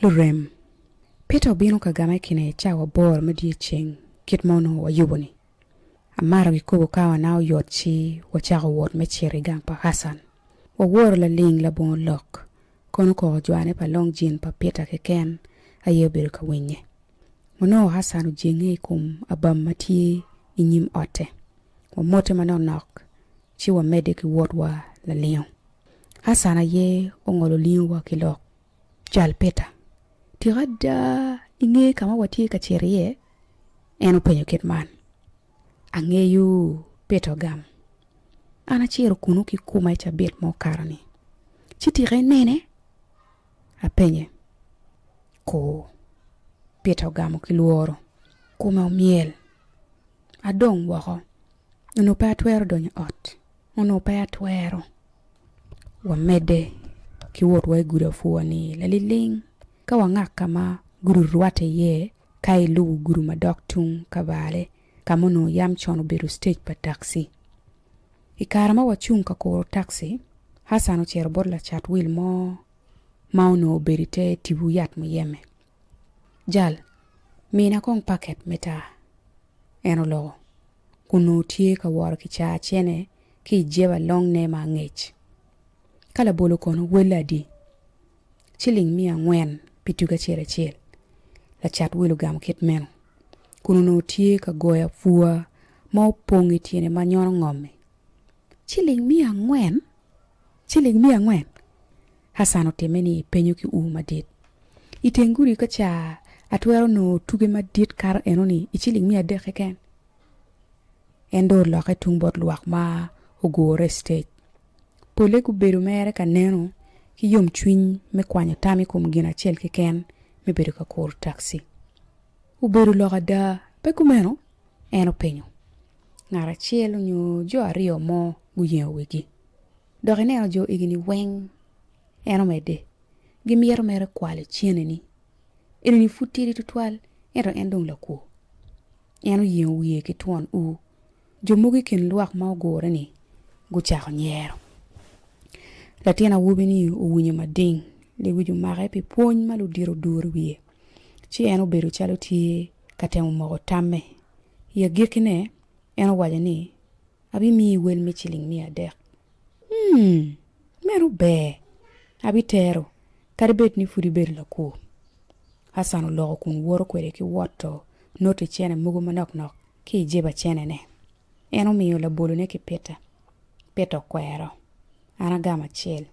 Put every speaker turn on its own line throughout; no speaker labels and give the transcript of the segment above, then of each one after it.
Lurem, Peter obino ka gama i kine cawa aboro me dyeceng kit ma onongo wayubo-ni. Amaro gikobo ka wana oyot ci wacako wot me cito i gang pa Hassan. Waworo laling labongo lok, kono koko jwane pa long jin pa Peter keken aye obedo ka winye. Wanongo Hassan ojenge i kom abam ma tye i nyim otte. Wamote manok nok ci wamedde ki wotwa lalingo. Hassan aye ongolo lingowa ki lok. Cal Peter, Tika ada ingeyo ka ma watye ka cito iye? en openyo kit man. Angeyo, Peter ogamo. An acito kunnu ki kuma i cabit ma okato-ni. Ci tika inene? apenye. Ku. Peter ogamo ki lworo. Kome omyel. Adong woko. Nongo pe atwero donyo i ot. Onongo pe atwero wamedde ki wotwa i gudi apwua-ni laliling ka wangak ka ma gudi orwatte iye ka ilubo gudi madok tung Kabale ka ma onongo yam con obedo citec pa taxi. I kare ma wacung ka kuro taxi, Hassan ocito bot lacat wil mo ma onongo obedo i te tipo yat muyeme. Jal, mina kong paket me taa. En oloko. onongo tye ka woro ki caa cene ki i jeba longne ma angec. Ka labolo kono welle adi? Ciling miya angwen pi tuge acel acel, lacat wil ogamo kit meno, kun onongo tye ka goyo apua ma opong i tyene ma nyono ngom-mi. Ciling miya angwen? Ciling miya angwen? Hassan otimme ni penyo ki ur madit. I teng gudi ka ca, atwero nongo tuge madit kato enoni i ciling miya adek keken. En dong olokke tung bot lwak ma ogure i sitej. Polle gubedo mere ka neno ki yomcwiny me kwanyo tam i kom gin acel keken me bedo ka kuru taxi. Obedo lok ada, pe kumeno? en openyo. Ngat acel nyo jo aryo mo guyengo wigi. Dok ineno jo egini weng, en omedde, gimito mere kwal iceneni. Enoni pud tidi tutwal, ento en dong lakwo. En oyengo wiye ki twon ur. Jo mogo i kin lwak ma ogure-ni gucako nyero. Latin awobi-ni owinyo mading, lewic omake pi pwony ma ludito oduro i wiye, ci en obedo calo tye ka temo moko tamme. I agikkine, en owaco ni, Abimiyi wel me ciling miya adek. Humm! Meno ber! Abitero, kadi bed ni pud ibedo lakur. Hassan oloko kun woto kwede ki woto noti cene mogo manok nok ki i jeba cenene. En omiyo labolone ki Peter. Peter okwero. An agamo acel.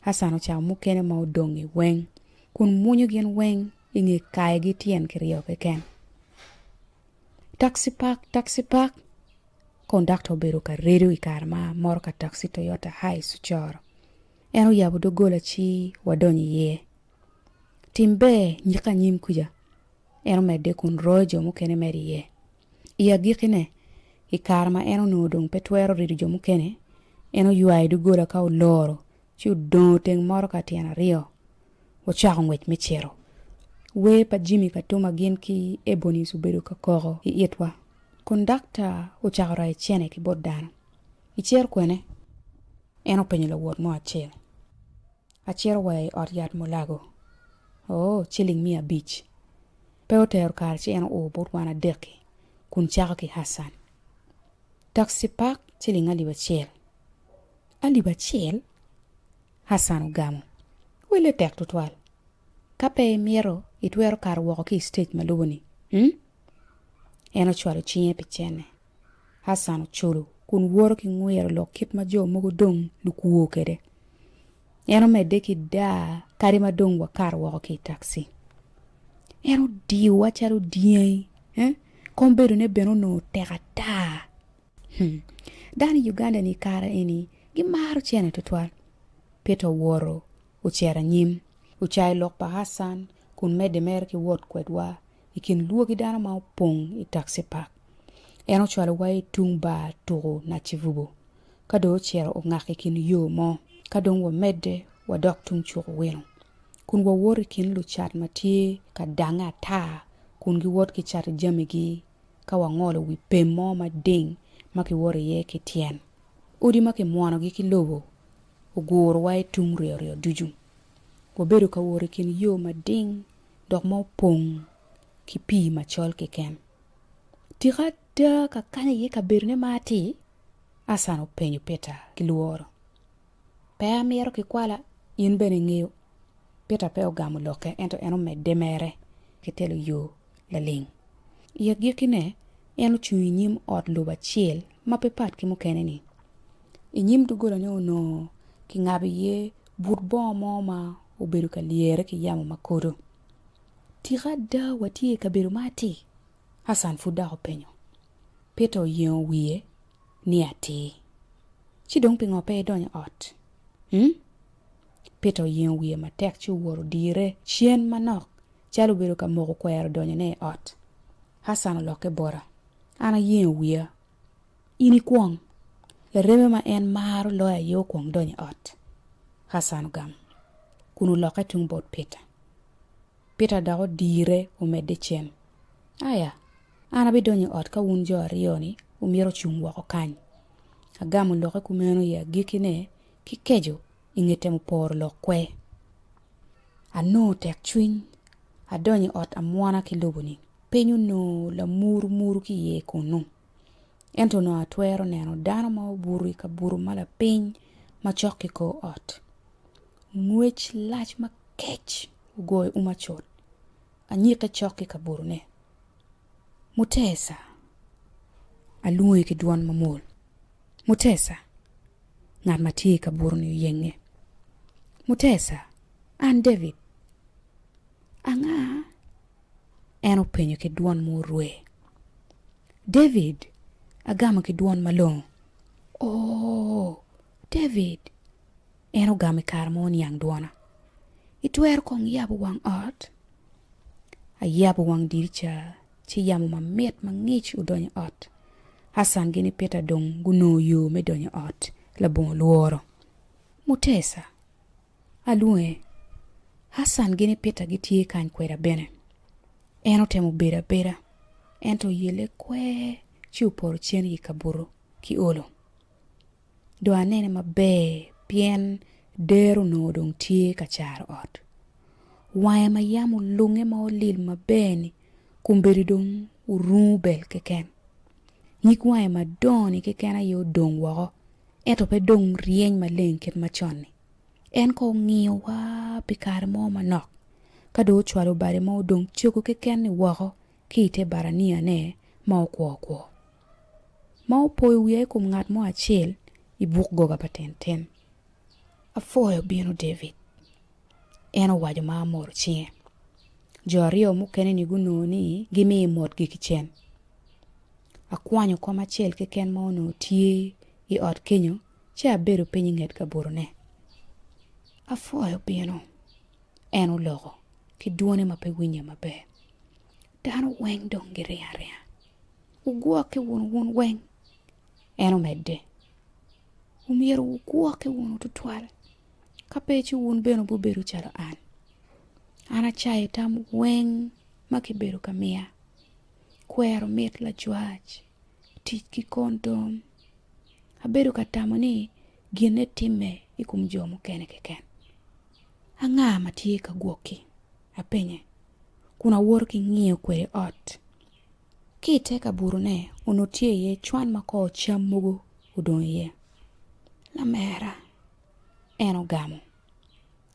Hassan ocako mukene ma odong-ngi weng kun mwunyo gin weng i nge kayogi tyen kiryo keken. Taxi park, taxi park. Kondakta obedo ka redo i kare ma motoka taxi Toyota Hiace ocoro. En oyabo doggola ci wadonyo iye. Tim ber nyika anyim kuca, en omedde kun royo jo mukene medo iye. I agikkine, i kare ma en onongo dong pe twero rido jo mukene, en oywayo doggola ka oloro ci odongo teng motoka ka tyen aryo, wucako ngwec me cito. Wer pa Jimmy Katuma gin ki Ebonies obedo ka koko i itwa. Kondakta ocako rayo cene ki bot dano. Icito kwene? en openyo lawot mo acel. Acito wa i ot yat Mulago. Oo, ciling miya abic. Pe otero kare ci en oo bot wan adek-ki kun cako ki Hassan. Taxi park ciling alip acel. alip acel, Hassan ogamo, Welle tek tutwal. Ka pe imito, itwero kato woko ki i sitej ma lubo-ni. Hum? En ocwalo cinge pi cene. Hassan oculo kun woto ki ngwiro lok kit ma jo mogo dong lukwo kwede. En omedde ki daa kadi ma dong wakato woko ki i taxi. En odiyowa calo dyangi, eh? Kombedone bene onongo tek ata. Dano i Uganda ni kare eni gimaro cene tutwal. Peter oworo ocito anyim, ocayo lok pa Hassan kun medde mere ki wot kwedwa i kin lwogi dano ma opong i taxi park. En ocwalowa i tung bar tuku Nachivubo, ka dong ocito ongak i kin yo mo ka dong wamedde wadok tung cuk Owino kun wawoto i kin lucat ma tye ka dange ata kun giwot gicato jamigi ka wangolo wi pem mo mading ma kiwoto iye ki tyen odi ma kimwonogi ki lobo ogurowa i tung ryoryo ducu. Wabedo ka wot i kin yo mading dok ma opong ki pii macol keken. Tika ada ka kany aye kabedone ma atir? Asan openyo Peter ki lworo. Pe amito kikwala, in bene ingeyo. Peter pe ogamo lokke, ento en omedde mere ki telo yo laling. I agikkine, en ocung i nyim ot lobo acel ma pe pat ki mukene-ni. I nyim doggolane onongo kingabo iye but bongo mo ma obedo ka lyere ki yamo ma kodo. Tika ada watye i kabedo ma atir? Hassan pud dok openyo. Peter oyengo wiye. ni atir. Ci dong pingo pe idonyo ot? Hum? Peter oyengo wiye matek ci owor odire cen manok calo obedo ka moko kwero donyone i ot. Hassan olokke bota. An ayengo wiya. In ikwong. Lareme ma en maro loyo aye okwong donyo i ot. Hassan ogam kun olokke tung bot Peter. Peter dok odire omedde cen. Aya! An abidonyo i ot ka wun jo aryo-ni wumito ocung woko kany. Agamo lokke kumeno i agikkine ki keco i nge temo poro lok kwe. Anongo tekcwiny, adonyo i ot amwona ki lobo-ni. Piny onongo lamurumuru ki iye kunnu. Ento onongo atwero neno dano ma obuto i kabuto ma lapiny macok ki kor ot. Ngwec lac makec ogoyo uma cut. Anyikke cok ki kabodone. Mutesa! Alwonge ki dwon mamwol. Mutesa! Ngat ma tye i kabodoni oyenge. Mutesa! An David. Anga? En openyo ki dwon ma orwe. David! Agamo ki dwon malongo. Oo! David, En ogamo i kare ma oniang dwona. Itwero kong yabo wang ot? Ayabo wang dirica, ci yamo mamit ma ngic odonyo i ot. Hassan gin i Peter dong gunongo yo me donyo i ot labongo lworo. Mutesa! Alwonge. Hassan gin i Peter gitye kany kweda bene. En otemo bedo abeda, ento yelle kwer ci opoto cen i kabuto ki olo. dong anene maber pien dero onongo dong tye ka caro ot. Wange ma yam olunge ma olil maber-ni kombeddi dong orungu bel keken. Nyig wange madongo-ni keken aye odong woko ento pe dong ryeny maleng kit macon-ni. En kong ongiyowa pi kare mo manok ka dong ocwalo bade ma odong cogo keken-ni woko ki i te baraniane ma okwo okwo. ma opoyo wiya i kom ngat mo acel i buk goga pa tintin. Apwoyo bino David, en owaco ma amoro cinge. Jo aryo mukene-ni gunongo ni gimiyo motgi kicen. Akwanyo kom acel keken ma onongo tye i ot kenyo ci abedo piny i nget kabodone. Apwoyo bino, en oloko ki dwone ma pe winye maber. Dano weng dong giringo aringa. Wugwokke wunu wun weng, en omedde. Omyero wugwokke wunu tutwal, ka pe ci wun bene wubibedo calo an. An acayo tam weng ma kibedo ka miya, kwero mit lajwac, tic ki kondom. Abedo ka tamo ni ginne timme i kom jo mukene keken. Anga ma tye ka gwokki? apenye, kun awoto ki ngiyo kwede ot. Ki i te kaburune onongo tye iye cwan ma kor cam mogo odong iye. Lamera en ogamo,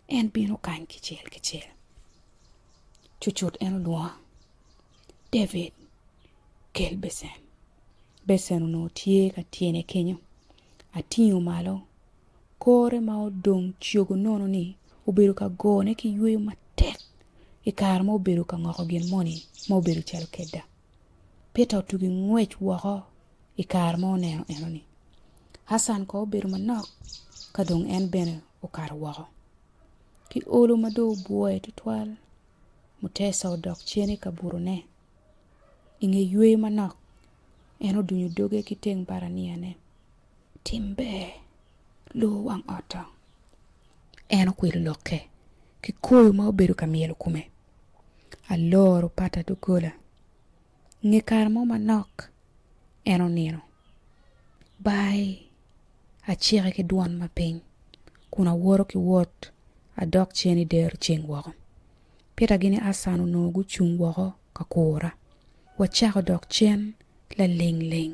en bino kany kicel kicel. Cucut en olwongo, David, kel becen. Becen onongo tye ka tyene kenyo. Atingo malo Kore ma odong cogo nono-ni obedo ka gone ki yweyo matek i kare ma obedo ka ngoko gin moni ma obedo calo keda. Peter otugo i ngwec woko i kare ma oneno enoni. Hassan kono obedo manok ka dong en bene okato woko. Ki olo ma dong obwoyo tutwal, Mutesa odok cen i kabutone. I nge yweyo manok, en odunyo doge ki teng baraniane. Tim ber, lu wang ot dong. En okwilo lokke ki koyo ma obedo ka myelo kome. Aloro pata doggola. Nge kare mo manok, en onino. Baai! Acike ki dwon mapiny kun awoto ki wot adok cen i dero ceng woko. Peter gini Acan onongo gucung woko ka kura. Wacako dok cen laling ling.